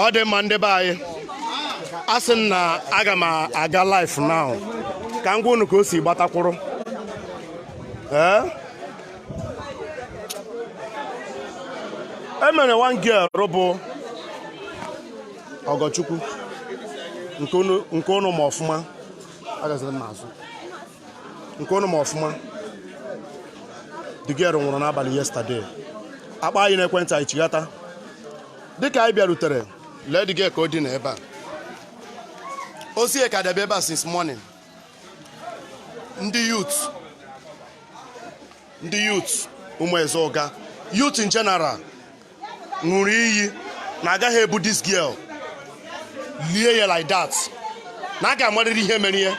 ọ dị mma ndị be anyị a sị m na aga m aga live now ka m gwa unu ka o si gbata kwụrụ ee enwere one girl bụ Ọgọchukwu nke ụnụ ma ọfụma agaziri m n'azụ nke ụnụ ma ọfụma the girl nwụrụ n'abalị yesterday a kpọọ anyị n'ekwentị anyị chighata dịka anyị bịarutere lee the girl ka o dina ebe a ozu ya ka edebe ebe a since morning ndị youth ndị youth Ụmụeze Ụga youth in general ṅụrụ iyi na agaghị ebu this girl lie ya like that na a ga-amarịrị ihe mere ya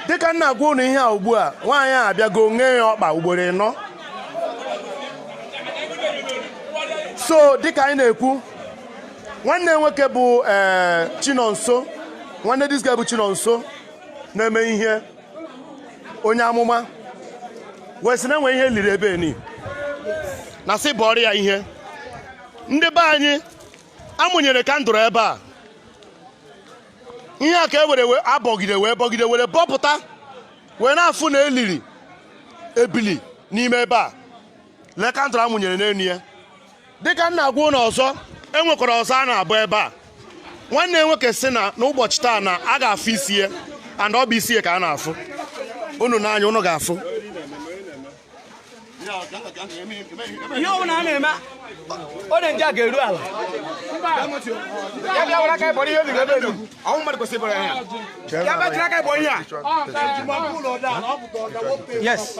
dịka m na-agwa ụnụ ihe a ugbu a nwaanyị a abịago nye ya ọkpa ugboro ịnọ so dịka anyị na-ekwu nwanne ya nwoke bụ ee eh, Chinonso nwanne this girl bụ Chinonso na-eme ihe onye amụma wee sị na enwe ihe eliri ebe ni na sị bọọrọ ya ihe ndị be anyị amụnyere kandụl ebe a ihe a ka e were abọgide wee bọgide were bọpụta wee na-afụ na eliri ebili n'ime ebe a lee kandụl amụnyere n'elu ya dịka m na-agwa unu ọzọ enwekwara ọzọ a na-abọ ebe a nwanne ya nwoke sị na n'ụbọchị taa na a ga-afụ isi ya and ọ bụ isi ya ka a na-afụ unu n'anya unu ga-afụ ihe ọbụla a na-eme ọ dị nje a ga-eru ala ya bịa were aka ya bọrọ ihe obi ebe elu ọ wụ mmadụ kwesịrị ịbọrọ ya ya bịa jiri aka ya bọọ ihe a yes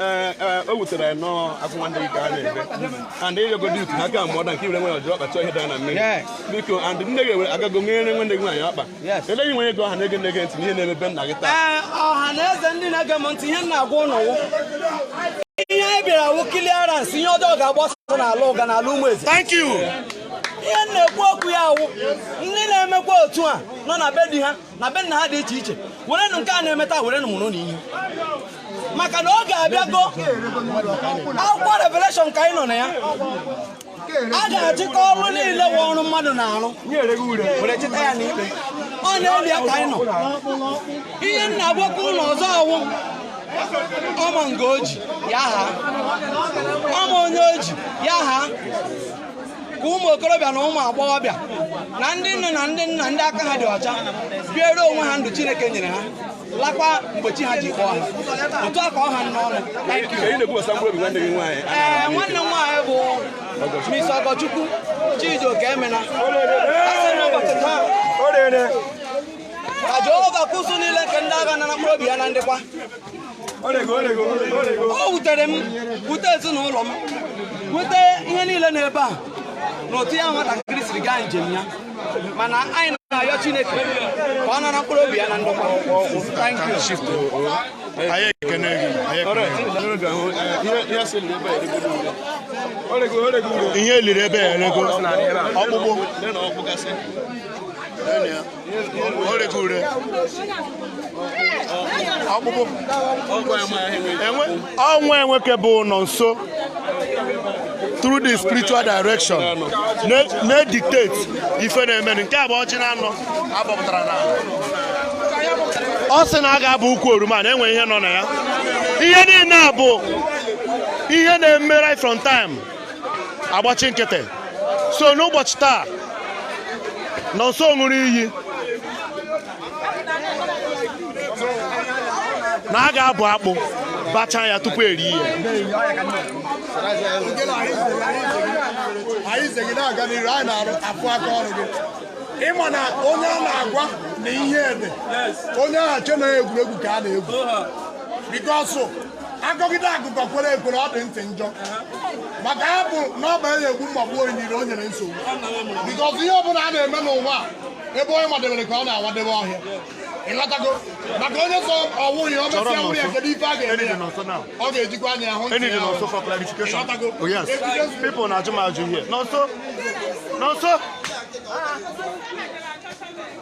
Eh, eh, o wutere anyị nnọọ akwa nwanne gị ka a na-ebe and ịyọgodi utu ha ka mụọda nke iwere nwere ọjọọ ọkpa chọọ ihe dara na mmiri biko and nne gị ewere agago nyere nwanne gị nwaanyị ọkpa ele gị nwere ego ọha na-ege nne gị ntị ihe na-eme be nna gị taa eh, ọha na eze ndị na-ege m ntị ihe m na-agwa unu ihe anyị bịara wụ clearance ihe ọjọọ ga-agbasa n'ala Ụga n'ala Ụmụeze ihe na-ekwu okwu ya awụ ndị na-emekwa otu a nọ na be di ha na be nna ha dị iche iche werenụ nke a na-eme taa werenụ mụrụnụ ihe maka na oge abịago akwụkwọ Revelation ka anyị nọ na ya a ga-achịkọ ọrụ niile wụ ọrụ mmadụ na-arụ were chịta ya n'ikpe ọ na-eli ya ka anyị nọ ihe m na-agwakwa unu ọzọ wụ ọma nke o ji ya ha ọma onye o ji ya ha ka ụmụ okorobịa na ụmụ agbọghọbịa na ndị nne na ndị nna ndị aka ha dị ọcha biere onwe ha ndụ Chineke nyere ha lakwa mgbe chi ha ji kpọọ ha otu a ka ọ ha n'ọnụ ee nwanne m nwaanyị bụ Miss Ogochukwu Chijioke Emena asị n'ụbọchị taa ka Jehova nke usuu niile nke ndị agha nara mkpụrụ obi ya na ndokwa o wutere m wute ezinụlọ m wute ihe niile n'ebe a na otu ya nwatakịrị siri gaa njem ya mana anyị na-ayọ Chineke ka ọ nara mkpụrụ obi ya na ndokwa anyị ekene gị ihe e liri ebe ya erego ọkpụkpụ ọnwa enweke bụ Nọnso through the spiritual direction na-detect ife na-eme nke a bụ ọchị na anọ a gbapụtara n'ala ọ sị na a ga-abụ ukwu oroma na e nwe ihe nọ na ya ihe niile a bụ ihe na-eme right from time a gbachi nkịtị so n'ụbọchị taa Nọnso ṅụrụ iyi na a ga-abụ akpụ bachaa ya tupu e rie ihe anyị ze gị na-aga n'iru anyị na-arụ afụ aka ọrụ gị ị ma na onye a na-agwa na ihe dị onye ahụ che na egwuregwu ka a na-egwu because a gọgide agụgọ kwere ekwere ọ dị ntị njọ maka ya bụ na ọ banye egwu mgbagbu onyiri o nyere nsogbu because ihe ọbụla a na-eme n'ụwa ebe onye madebere ka ọ na-awadebe ọhịa ị ghọtago maka onye sị ọ wụ ya ọ mesịa wụrụ ya kedu ife a ga-eme ya ọ ga-ejikwa anya ahụ ntị ya ị ghọtago oh, people na-ajụ m ajụ ihe Nọnso Nọnso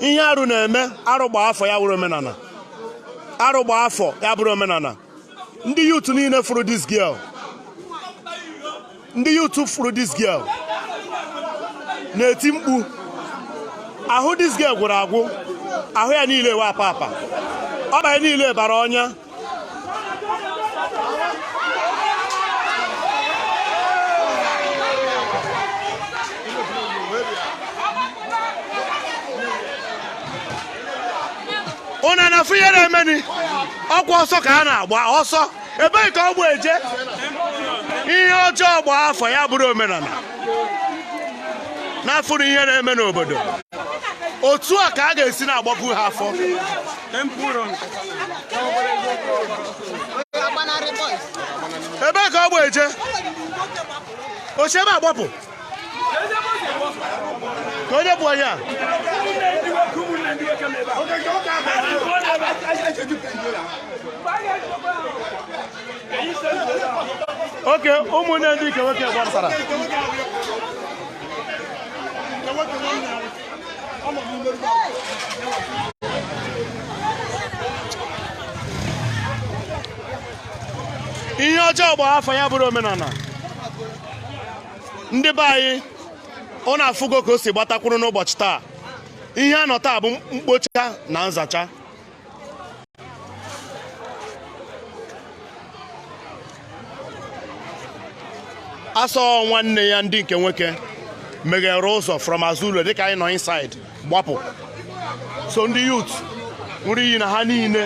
ihe arụ na-eme arụ gba afọ ya bụrụ omenala arụ gba afọ ya bụrụ omenala ndị youth niile fụrụ this girl ndị youth fụrụ this girl na-eti mkpu ahụ this girl gwụrụ agwụ ahụ ya niile wụ apa apa ọkpa ya niile bara ọnya ụna na-afụ ihe na-emeni ọkwa ọsọ ka a na-agba ọsọ ebee ka ọ gba eje ihe ọjọọ gbaa afọ ya bụrụ omenala na-afụrụ ihe na-eme n'obodo otu a ka a ga-esi na-agbapụ ha afọ ebee ka ọ gba eje o si ebe a gbapụ ka onye bụ onye a oke ụmụnne ndị nke nwoke gbapụtara ihe ọjọọ gbaa afọ ya bụrụ omenala ndị be anyị ụna afụgo ka o si gbatakwuru n'ụbọchị taa ihe a nọ taa bụ mkpocha na nzacha asọ nwanne ya ndị nke nwoke meghere ụzọ from azụ ụlọ dịka anyị nọ inside gbapụ so ndị youth ṅụrụ iyi na ha niile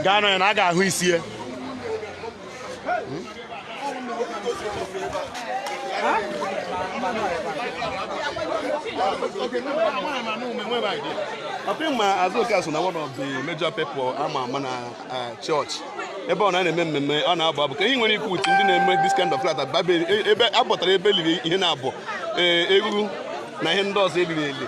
ga-anọ ya na a ga-ahụ isie ọpị ma Azuka so na one of the major people a ma ama na eh, church ebe ọ na-eme mmemme ọ na-abụ abụ ka ihe nwere ikwu utu ndị na-eme this kind of flat ebe abọtara ebe liri ihe na-abụ eh, egwu na ihe ndị ọzọ eliri eli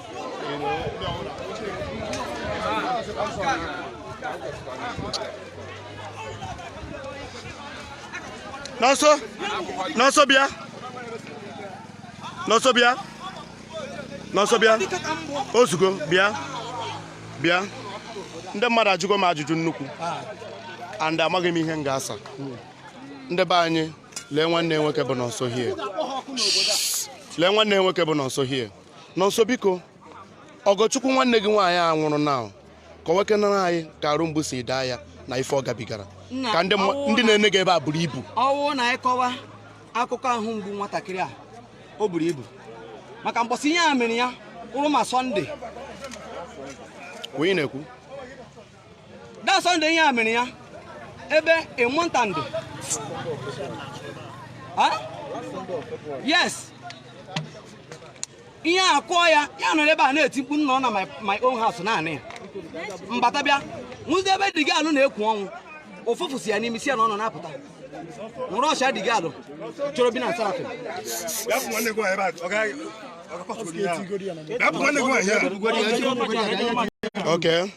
Nọnso Nọnso bịa Nọnso bịa Nọnso bịa ozugbo bịa bịa ndị mmadụ ajụgo m ajụjụ nnukwu and amaghị m ihe m ga-asa ndị be anyị lee nwanne nwoke bụ Nọnso here lee nwanne nwoke bụ Nọnso here Nọnso biko Ọgọchukwu nwanne gị nwaanyị a nwụrụ anwụ kọwakenara anyị ka arụ mgbu si daa ya na ife ọ gabigara ka ndị na-ene gị ebe a buru ibu ọ wụ na anyị kọwa akụkọ ahụ mgbu nwatakịrị a o buru ibu maka mgbọsị ihe a mere ya wụrụ ma Sọnde onye na-ekwu da Sunday ihe e mere ya ebe more than three years ihe a kụọ ya ya nọrọ ebe a na-eti mkpu nna ọ na my own house naanị ya mbata bịa nwụzi ebe dị gị alụ na-ekwu ọnwụ ụfụfụ si ya n'imi si ya n'ọnụ na-apụta nwụrụ ọcha dị gị alụ chọrọ bi na nsarafị Okay.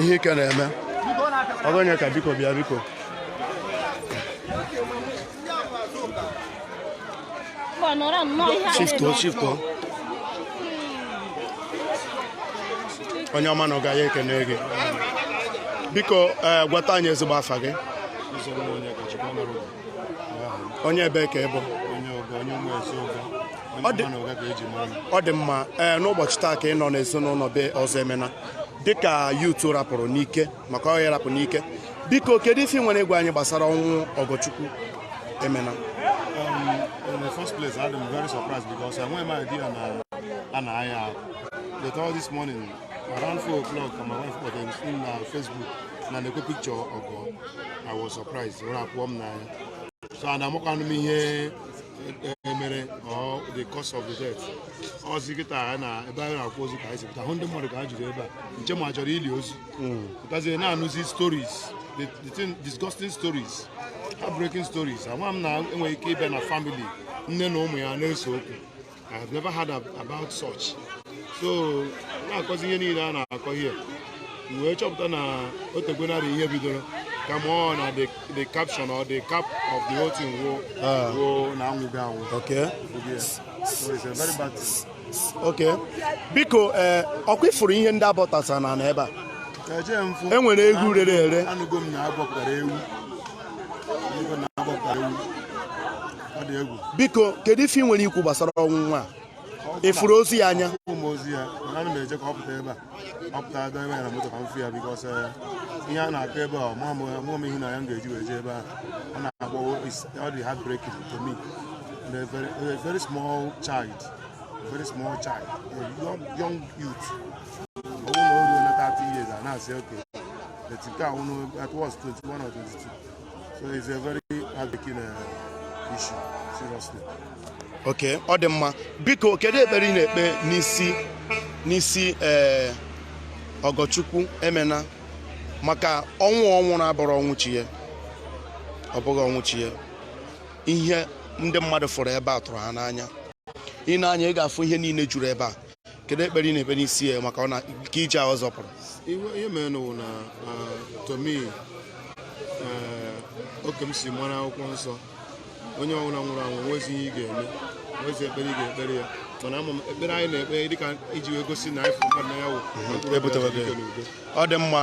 ihe ike na-eme ọga Onyeka biko bịa biko shifto shifto onye ọma nnọọ ka anyị kene gị biko eh, gwata anyị ezigbo afa gị onye ebee ka ị bụ ọ dị mma ee eh, n'ụbọchị taa ka ị nọ n'ezinụlọ be Ọzọemena dịka youth rapụrụ n'ike maka ọ ya rapụ n'ike biko kedu ife i nwere ịgwa anyị gbasara ọnwụ Ọgọchukwu Emena um, in the first place, I am very surprised because I went my idea and I, and I uh, the all this morning Around 4 o'clock, my wife got them in uh, Facebook. na na picture Ọgọ I was surprised ọ na-atụ m n'anya so and amakwanụ m ihe mere or the cause of the death ọ zị kịta na ebe anyị na-akọzi ka anyị si pụta hụ ndị mmadụ ka ha juru ebe a nche m a chọrọ ili ozu pụtazie na-anụzi stories the thing disgusting stories heartbreaking stories ama m na e nwere ike ịbịa na family nne na ụmụ ya na-ese okwu I have never heard about such. So na-akọzi ihe niile a na-akọ ihe wee chọpụta na o tegwonarị ihe bidoro kama na the the caption or the cap of the whole thing wo ah. wo na ọ nwụgo anwụ. Okay. Yes. So it's a very bad thing. Okay. Biko eh, ọkwa ị fụrụ ihe ndị a bọtasa na n'ebe a. E nwere ewu rere ere. Anụgo m na a bọpụtara ewu. biko kedu ife i nwere ikwu gbasara ọnwụ nwa a ị fụrụ ozu ya anya ozu ya mana ana m eje ka ọ pụta ebe a ọ pụta aga ebe ya na moto ka m fụ ya because eh, ihe a na-akọ ebe a mụọ m ihu na ya m ga-eji wee jee ebe a ọ na-akpọ ọ dị heartbreaking to me a very, a very small child a very small child a young, young youth ọ bụrụ na o ruo na 30 years a na-asị okay But nke a ọ nọ at worst 21 or 22. So it's a very heartbreaking uh, issue, seriously. Okay, ọ dị mma. Biko, kedu ekpere ị na-ekpe n'isi n'isi ee eh, Ọgọchukwu Emena maka ọnwụ ọ nwụrụ abụrọ ọnwụ chi ya ọ bụghị ọnwụ chi ya ihe ndị mmadụ fụrụ ebe a tụrụ ha n'anya i nee anya ị ga-afụ ihe niile juru ebe a kedu ekpere ị na-ekpe n'isi ya maka ọ na nke ije ahụ zọpụrụ ihe mere n'ụwa na to me oke m si mara akwụkwọ nsọ onye ọbụla nwụrụ anwụ nwezi ihe ị ga-eme nwezi ekpere ị ga-ekpere ya mana ama m ekpere anyị na-ekpe dịka iji wee gosi na anyị fụrụ mmadụ n'anya wụ ọ dị mma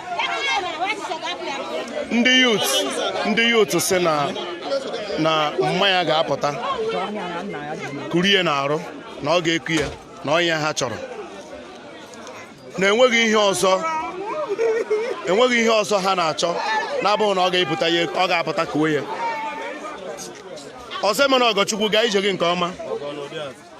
ndị yut ndị yut sị na na mma ya ga-apụta kuri ya n'arụ na ọ ga-eku ya na ọ ya ha chọrọ na enweghị ihe ọzọ enweghị ihe ọzọ ha na-achọ na-abụghị na ọ ga-epụta ya ọ ga-apụta kuwe ya ọzọ emena ọgọchukwu gaa ije gị nke ọma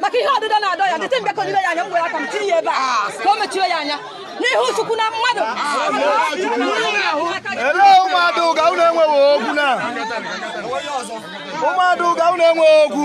maka ihe ọdịda na-adọ ya dịte mgbe ka onyire ya anya m gwere aka m tinye ya ebe a ka o mechie ya anya n'ihu chukwu na mmadụ elee ụmụada ụga unu enweghị okwu na ụmụada ụga unu enweghị okwu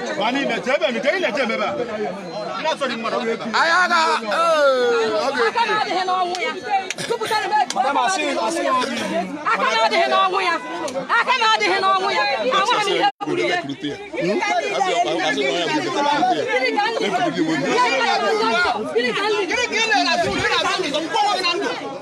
anyị agha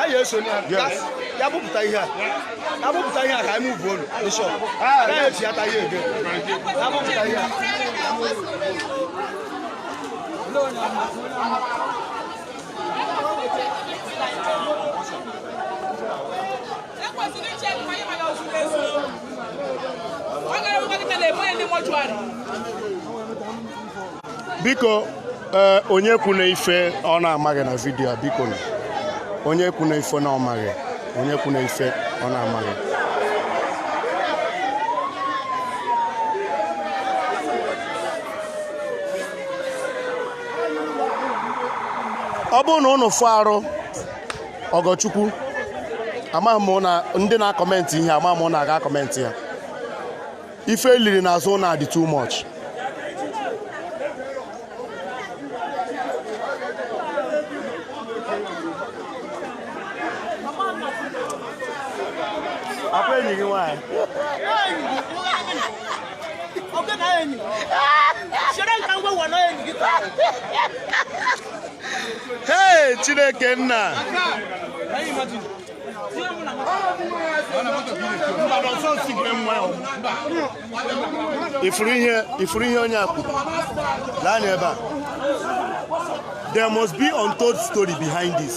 anyị eso ya bupụta ihe a ya bupụta ihe a ka anyị mụvuo olu bishọp anyị eji ata ihe ebe ya bupụta ihe a biko eh, onye kwuna ife ọ na-amaghị na vidiyo a biko onye kwuna ife na ọ maghị onye kwuna ife ọ na-amaghị ọ bụrụ na unu fụ arụ ọgọchukwu amaghị m na ndị na-akọmentị ihe amaghị m na a ga-akọmentị ya ife eliri n'azụ na-adị too much Hey, Chineke nna. ifuru ihe onye akwụ lee anya ebe a there must be untold story behind this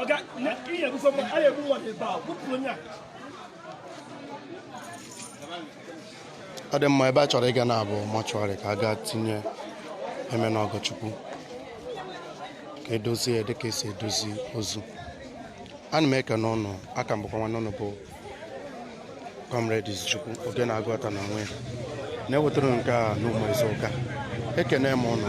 ọga ihe ebufe mmadụ a na-egbu mmadụ ebe a gbupụrụ onye a ọ dị mma ebe a chọrọ ịga now bụ mortuary ka a gaa tinye Emena Ọgọchukwu ka edozie ya dịka esi edozi ozu ana m ekene ụnụ a ka m bụkwa nwanne ụnụ bụ comrade Izuchukwu oge na-agwọta na onwe ya na-ewetara nke a n'ụmụ izu ụka ekene m ụnụ